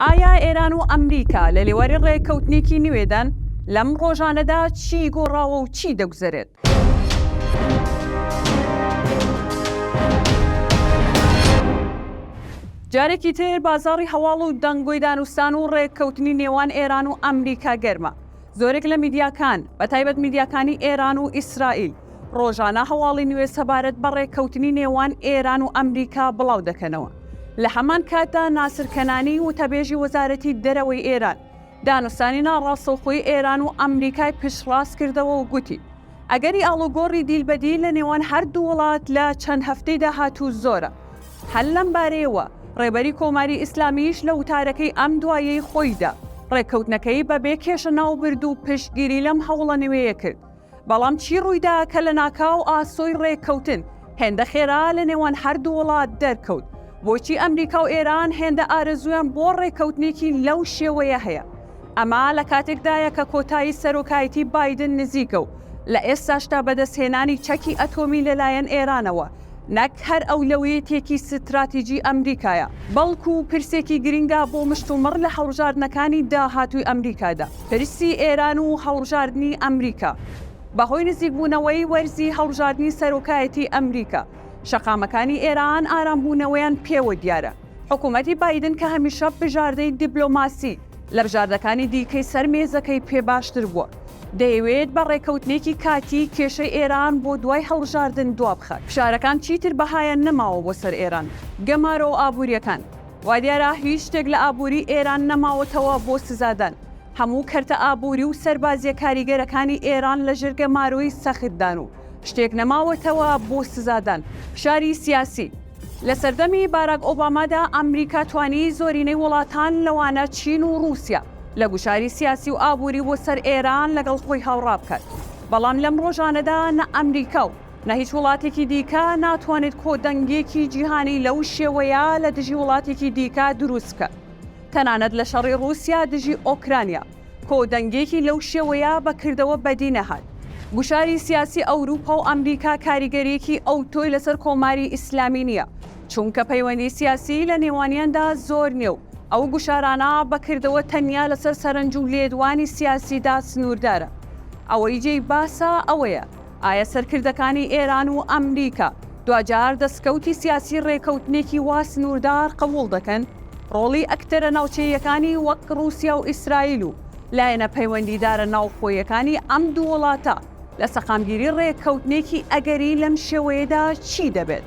ئایا ئێران و ئەمریکا لە لێواری ڕێککەوتنێکی نوێدان؟ لەم ڕۆژانەدا چی گۆڕاوە و چی دەگوزەرێت؟ جارێکی تر بازاڕی هەواڵ و دەنگۆی دانوستان و ڕێککەوتنی نێوان ئێران و ئەمریکا گەرمە. زۆرێک لە میدیاکان، بەتایبەت میدیاکانی ئێران و ئیسرائیل، ڕۆژانە هەواڵی نوێ سەبارەت بە ڕێککەوتنی نێوان ئێران و ئەمریکا بڵاو دەکەنەوە. لە هەمان کاتدا ناسر کەنانی، وتەبێژی وەزارەتی دەرەوەی ئێران، دانوستانی ناڕاستەوخۆی ئێران و ئەمریکای پشتڕاست کردەوە و گوتی، ئەگەری ئاڵوگۆڕی دیل بە دیل لە نێوان هەردوو وڵات لە چەند هەفتەی داهاتوو زۆرە. هەر لەم بارەیەوە ڕێبەری کۆماری ئیسلامییش لە وتارەکەی ئەم دواییەی خۆیدا، ڕێککەوتنەکەی بە بێ کێشە ناوبرد و پشتگیری لەم هەوڵە نوێیە کرد. بەڵام چی ڕوویدا کە لە ناکاو ئاسۆی ڕێککەوتن هێندە خێرا لە نێوان هەردوو وڵات دەرکەوت؟ بۆچی ئەمریکا و ئێران هێندە ئارەزوویان بۆ ڕێککەوتنێکی لەو شێوەیە هەیە؟ ئەمە لە کاتێکدایە کە کۆتایی سەرۆکایەتی بایدن نزیکە و لە ئێستاشدا بەدەستهێنانی چەکی ئەتۆمی لەلایەن ئێرانەوە نەک هەر ئەولەویەتێکی ستراتیجی ئەمریکایە، بەڵکو پرسێکی گرنگە بۆ مشتومڕ لە هەڵبژاردنەکانی داهاتووی ئەمریکادا. پرسی ئێران و هەڵبژاردنی ئەمریکا، بەهۆی نزیکبوونەوەی وەرزی هەڵبژاردنی سەرۆکایەتی ئەمریکا، شەقامەکانی ئێران ئارامبوونەوەیان پێوە دیارە. حکومەتی بایدن کە هەمیشە بژاردەی دیبلۆماسی لە بژاردەکانی دیکەی سەر مێزەکەی پێ باشتر بووە، دەیەوێت بە ڕێکەوتنێکی کاتی کێشەی ئێران بۆ دوای هەڵبژاردن دوابخات. فشارەکان چیتر بەهایان نەماوە بۆ سەر ئێران. گەمارۆ ئابوورییەکان، وا دیارە هیچ شتێک لە ئابووری ئێران نەماوەتەوە بۆ سزادان. هەموو کەرتە ئابووری و سەربازییە کاریگەرەکانی ئێران لەژێر گەمارۆی سەختدان و شتێک نەماوەتەوە بۆ سزادان. فشاری سیاسی، لە سەردەمی باراک ئۆبامادا ئەمریکا توانی زۆرینەی وڵاتان لەوانە چین و ڕووسیا لە گوشاری سیاسی و ئابووری بۆ سەر ئێران لەگەڵ خۆی هاوڕا بکات، بەڵام لەم ڕۆژانەدا نە ئەمریکا و نە هیچ وڵاتێکی دیکە ناتوانێت کۆدەنگێکی جیهانی لەو شێوەیە لە دژی وڵاتێکی دیکە دروست بکات تەنانەت لە شەڕی ڕووسیا دژی ئۆکرانیا. کۆدەنگێکی لەو شێوەیە بە کردەوە بەدی نەهات. گوشاری سیاسی ئەوروپا و ئەمریکا کاریگەرییەکی ئەوتۆی لەسەر کۆماری ئیسلامی نییە، چونکە پەیوەندی سیاسی لە نێوانیاندا زۆر نییە و ئەو گوشارانە بە کردەوە تەنیا لەسەر سەرنج و لێدوانی سیاسیدا سنووردارە. ئەوەی جێی باسە ئەوەیە، ئایا سەرکردەکانی ئێران و ئەمریکا دواجار دەسکەوتی سیاسی ڕێکەوتنێکی وا سنووردار قبووڵ دەکەن؟ ڕۆڵی ئەکتەرە ناوچەییەکانی وەک ڕووسیا و ئیسرائیل و لایەنە پەیوەندیدارە ناوخۆیەکانی ئەم دوو وڵاتە لە سەقامگیری ڕێککەوتنێکی ئەگەری لەم شێوەیەدا چی دەبێت؟